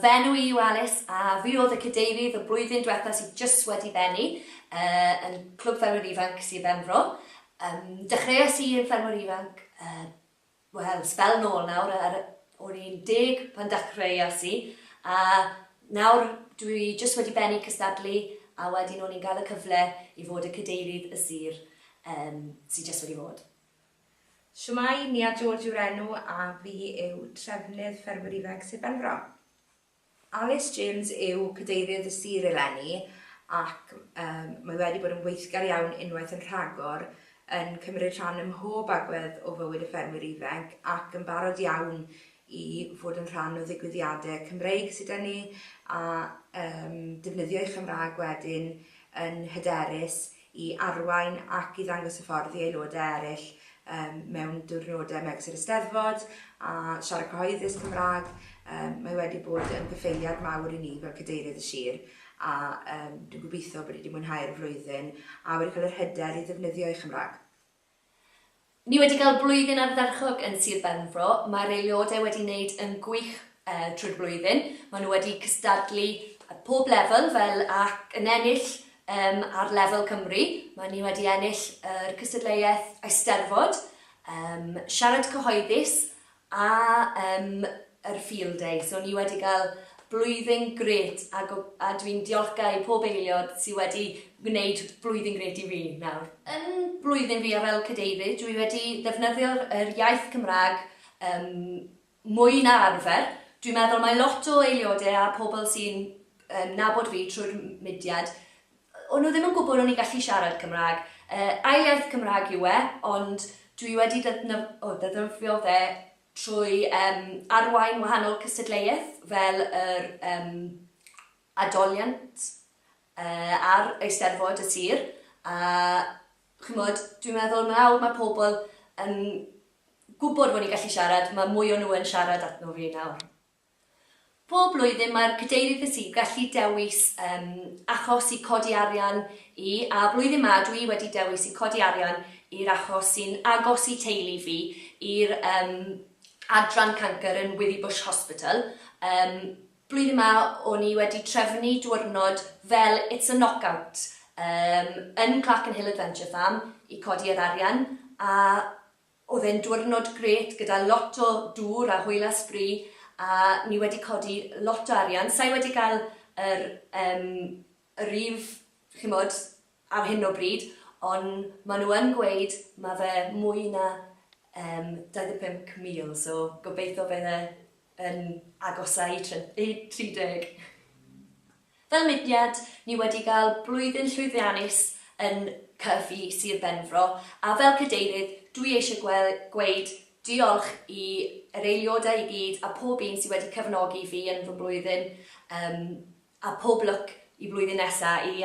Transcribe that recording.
Fy enw i yw Alys a fi oedd y cadeirydd y blwyddyn diwetha sydd jyst wedi bennu yn Clwb Ffermwyr Ifanc Sir Benfro. Dechreuais i yn ffermwr ifanc, wel, sbel nôl nawr, o'n i'n deg pan dechreuais i a nawr dwi jyst wedi bennu cystadlu a wedyn o'n i'n cael y cyfle i fod y cadeirydd y sir sydd jyst wedi bod. Shwmae, Nia George yw'r enw a fi yw Trefnydd Ffermwyr Ifanc Sir Benfro. Alys James yw Cadeirydd y Sir eleni ac yym mae wedi bod yn weithgar iawn unwaith yn rhagor yn cymryd rhan ym mhob agwedd o fywyd y ffermwyr ifanc ac yn barod iawn i fod yn rhan o ddigwyddiadau Cymreig sy 'da ni a yym defnyddio'i Chymraeg wedyn yn hyderus i arwain ac i ddangos y ffordd i aelodau eraill mewn diwrnodau megis yr Eisteddfod a siarad cyhoeddus Cymraeg. Mae wedi bod yn gyffeiliad mawr i ni fel Cadeirydd y Sir a dwi'n gobeithio bod ni wedi mwynhau'r flwyddyn a wedi cael yr hyder i ddefnyddio ei Chymraeg. Ni wedi cael blwyddyn ardderchog yn Sir Benfro, mae'r aelodau wedi wneud yn gwych drwy'r flwyddyn, maen nhw wedi cystadlu ar pob lefel fel ac yn ennill yym ar lefel Cymru, maen ni wedi ennill yr cystadleuaeth Eisteddfod, yym siarad cyhoeddus A yym yr field day, so ni wedi cael blwyddyn grêt a go- a dwi'n diolchgar i pob eiliod sy wedi gwneud blwyddyn grêt i fi nawr. Yn blwyddyn fi a fel cadeirydd dwi wedi defnyddio yr iaith Cymraeg yym mwy na arfer, dwi'n meddwl mae lot o eiliode a pobl sy'n yym nabod fi trwy'r m- mudiad, O'n nhw ddim yn gwybod o'n i'n gallu siarad Cymraeg. Yy, ail iaith Cymraeg yw e, ond dwi wedi defnydd- o, ddefnyddio fe trwy yym arwain wahanol cystadleuaeth fel yr yym adoliant yy a'r Eisteddfod y Sir, a chimod, dwi'n meddwl nawr mae pobl yn gwybod fod ni'n gallu siarad, mae mwy o nhw yn siarad atno fi nawr. Bob blwyddyn mae'r Cadeirydd y Sir gallu dewis yym achos i codi arian i, a blwyddyn ma dw i wedi dewis i codi arian i'r achos sy'n agos i teulu fi, i'r yym adran cancr yn Withybush Hospital. Yym blwyddyn ma o'n i wedi trefnu diwrnod fel It's a Knockout yym yn Clerkenhill Adventure Farm i codi yr arian, a Oedd e'n diwrnod grêt gyda lot o dŵr a hwyla sbri a ni wedi codi lot o arian. Sa i wedi cael yr yym yr un chimod ar hyn o bryd ond maen nhw yn gweud ma' fe mwy na yym 25,000 so gobeitho bydd e yn agosáu i try- i 30. Fel mudiad, ni wedi gael blwyddyn llwyddiannus yn Cyfi Sir Benfro a fel Cadeirydd, dwi eisiau gwel, gweud diolch i yr eiliodau i gyd a pob un sydd wedi cyfnogi fi yn fy mlwyddyn um, a pob lwc i flwyddyn nesa i